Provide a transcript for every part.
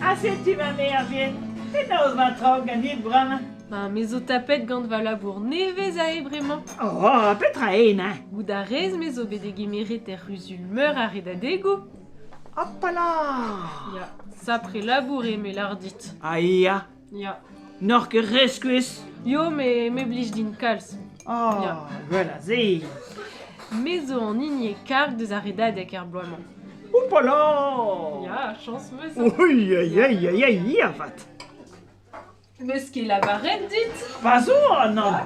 Ha setu va mervien. Penaos va traoù ganit bremañ? Ba, me zo tapet gant va labour nevez ae bremañ. Oh, petra int, hein? Goût a rez me zo bet degemeret er c'huzul meur ar redadegoù? Hopala! Ya, sapre labour eo me lâr dit. Ah, ya, Ya. N'oc'h ket re skuizh Yo, me, me blij din kalz. Oh, Ya. gwell a se Me zo an hini e karg deus ar redadeg er bloaz-mañ. Oupala Ya, chans meus. Oei, oei, oei, oei, avat. Meus ket lavaret dit? Va zo an an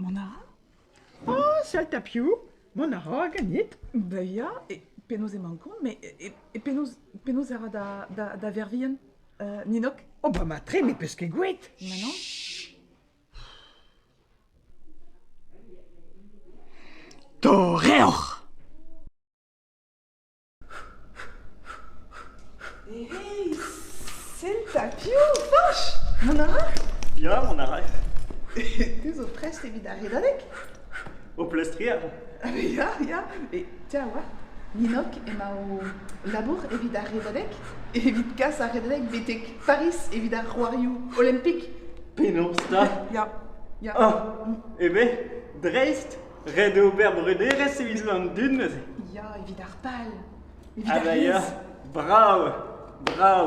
Mont a ra? Ah, sal tapiou, mont a ra ganit. Da ya, e penaos emañ kont, mais e, e penaos, penaos a ra da, da, da vervien, uh, Ninok? Oh, ba ma tre, me peus ket gouet. Ma non? Torreoc'h! Hey, sell 'ta piv Fañch Mont a ra Ya, on a ray. Te zo prest evit ar redadeg Ho plestrier Ah ben ya, ya Et tiens, oa Ninok emañ o labour evit ar redadeg Evit kas ar redadeg betek Paris evit ar c'hoarioù olimpik. Penaos 'ta? Ya. Ya. Ah, eh ben, dreist, ret eo ober brederezh e Islandun neuze. Ya, evit ar pal. Evit Ah ar bah ya, rez. brav, brav.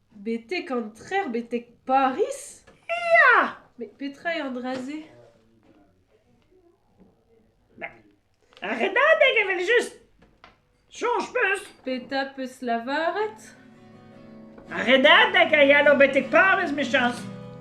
Betek an trec'h, betek Pariz ? Ya ! Met petra eo an dra-se ? Ar redadeg evel-just ! Soñj 'peus ? Petra 'peus lavaret ? Ar redadeg a ya 'lo betek parrez 'mechañs.